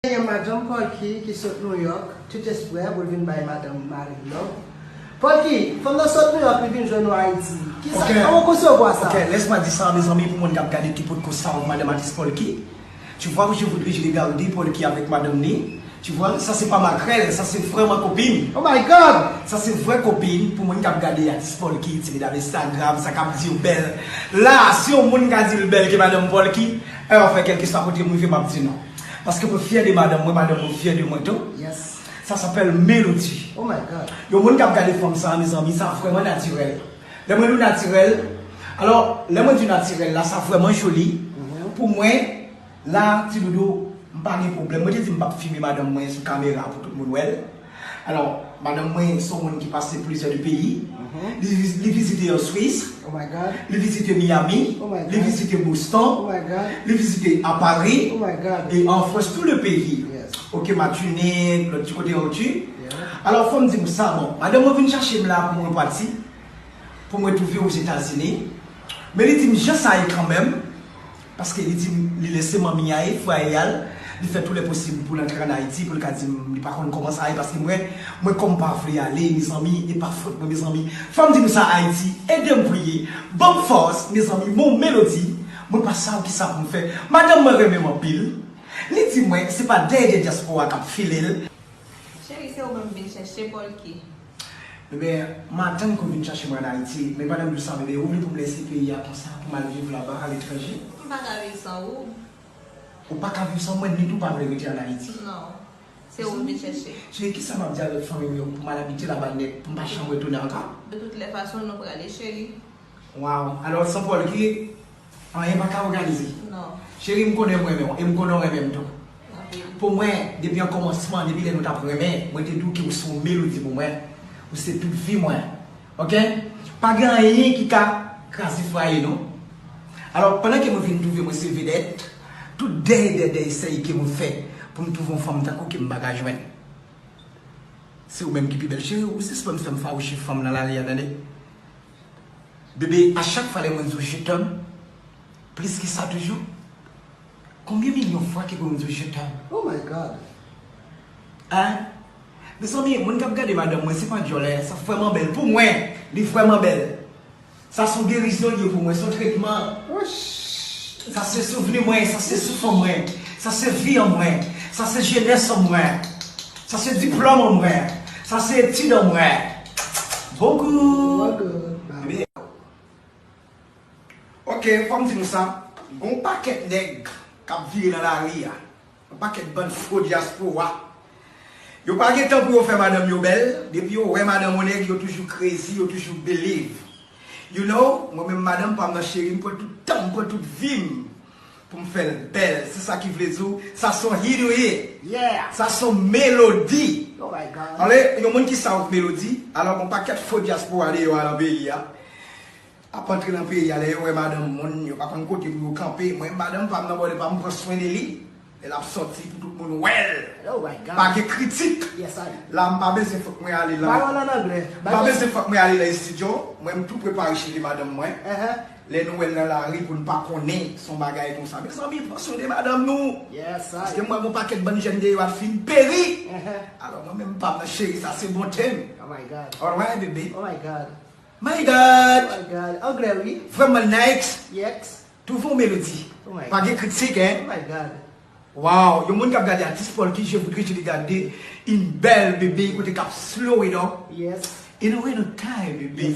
Te gen Madanm Polky ki sot Nouyòk tout espre pou l vin bay madanm mari l love. Polky, fanm nan sot Nouyòk li vin jwenn nou Ayiti. Kisa, kòman w konsevwa sa? Ok, lès mwen di sa mezanmi pou moun k ap gade ki potko sav madanm atis Polky. Tu vois ou je voudrais je regarder Polky avèk madanm ni. Tu vois, sa se pa makrèl, sa se vrèman kopin. Oh my God! Sa se vrè kopin pou moun k ap gade atis Polky, ti medam Instagram sa k ap di yo bèl la a, si yon moun ka di l bèl ke madanm Polky, Ew fè kelkeswa kote m rive map di non paske mwen fyè de madanm mwen madanm mwen fyè de mwen tou sa sapèl melodi yon moun kap gade fanm sa mezanmi sa vrèman natirèl lè mwen di w natirèl alò lè mwen di natirèl la sa vrèman joli pou mwen la ti doudou m pa gen pwoblèm mwen te di m pap fime madanm mwen sou kamera pou tout moun wèl. Alò, madanm mwen se yon moun ki pase plizyè de peyi. Li vizite an Swis, li vizite Miyami, li vizite Boston, li vizite a Pari, e an Frans tou le peyi. Ok, Matinik, lòt ti kote yo tu. Alò, fò m di ou sa, bon, madanm mwen vin chache m la pou m repati, pou m retouve Ozetazini. Men li di m jan sa ye kanmenm. Paske li di m li lese manmi a e frè a l, li fè tou lè posib pou l antre an Ayiti pou l ka di m li pa konn kòman sa ye paske mwen, mwen kòm pa vle ale mezanmi e pa fòt mwen mezanmi fò m di nou sa Ayiti ede m priye ban m fòs mezanmi mon melodi mwen pa saw kisa pou m fè madanm mwen renmen m anpil li di mwen se pa dèy de dyaspora k ap file l. Cheri se ou menm m vin chèche polky. Bebe, m atann ke w vin chache mwen an Ayiti, men pandan m di w sa, bebe, ou vle pou m lèse peyi a konsa pou m al viv laba a letranje? M pa ka viv san ou. Ou pa ka viv san mwen, ni tou w pa vle rete an Ayiti? Non. Se ou m vin chache. Cheri, kisa m ap di avèk fanmi m yo pou m al abite laba nèt, pou m pa janm retounen anka? De tout lè fason, nou prale, cheri. Waww alò san Paul ki anyen paka òganize Cheri m konnen m renmen w e m konnen w renmen m tou Pou mwen depi an kòmansman depi lè nou tap renmen mwen te di w ke w se yon melodi pou mwen Ou se tout vi mwen ok Pa gen anyen ki ka kraze fwaye nou Alò pandan ke mwen vin twouve mwen se vedèt Tout dèy dè dèy sèy ke mwen fè Pou m twouve yon fanm tankou ke m paka jwenn Se ou menm ki pi bèl Cheri ou sispann fè m fawouche fanm nan lari a tande. Bebe a chak fwa lè mwen di w je t'aime plis ke sa toujou Konbyen milyon fwa ke pou mwen di w je t'aime? Oh my God! Hein? Mezanmi moun kap gade madanm mwen se pa dyòlè sa vrèman bèl pou mwen li vrèman bèl sa son gerizyon li ye pou mwen son tretman sa se souvni mwen sa se souf an mwen sa se vi an mwen sa se jenès an mwen sa se diplòm an mwen sa se etid an mwen. Ok fòm di nou sa Gon pakèt nèg kap vire nan lari a Yon pakèt bann fo dyaspora Yo pa gen tan pou yo fè madanm yo bèl Depi yo wè madanm yon nèg yo toujou crazy yo toujou believe You know Mwen menm madanm pam nan cheri m pran tout tanm pran tout vim Pou m fè l bèl. Se sa ki vle di w sa s on hit ou ye. Sa s on melodi. Anlè yon moun ki south melodi. Alò gen on pakèt fo dyaspora deyò a lan peyi a. Ap antre lan peyi a lè yo wè madanm moun yo pa konn kote pou yo kanpe. Mwen madanm pa m nan bòde pa m m pran swen de li. Lè l ap sòti pou tout moun wè l. Pa gen kritik. La m pa bezwen fòk mwen ale lan. M pa bezwen fòk mwen ale lan estidyo. Mwen m tou prepare cheve madanm mwen. Lè nou wèl nan lari poun pa konnen son bagay konsa mezanmi pran swen de madanm nou paske mwen gon pakèt bann jèn deyò ap fin peri alò mwen menm pam nan cheri sa se bon tem alright bebe my god vrèman nice tou fon melodi pa gen kritik hein waww yon moun kap gade atis paul ki je voudre je li gade yn bèl bebe kote kap slow it up in a way nan kay bebe.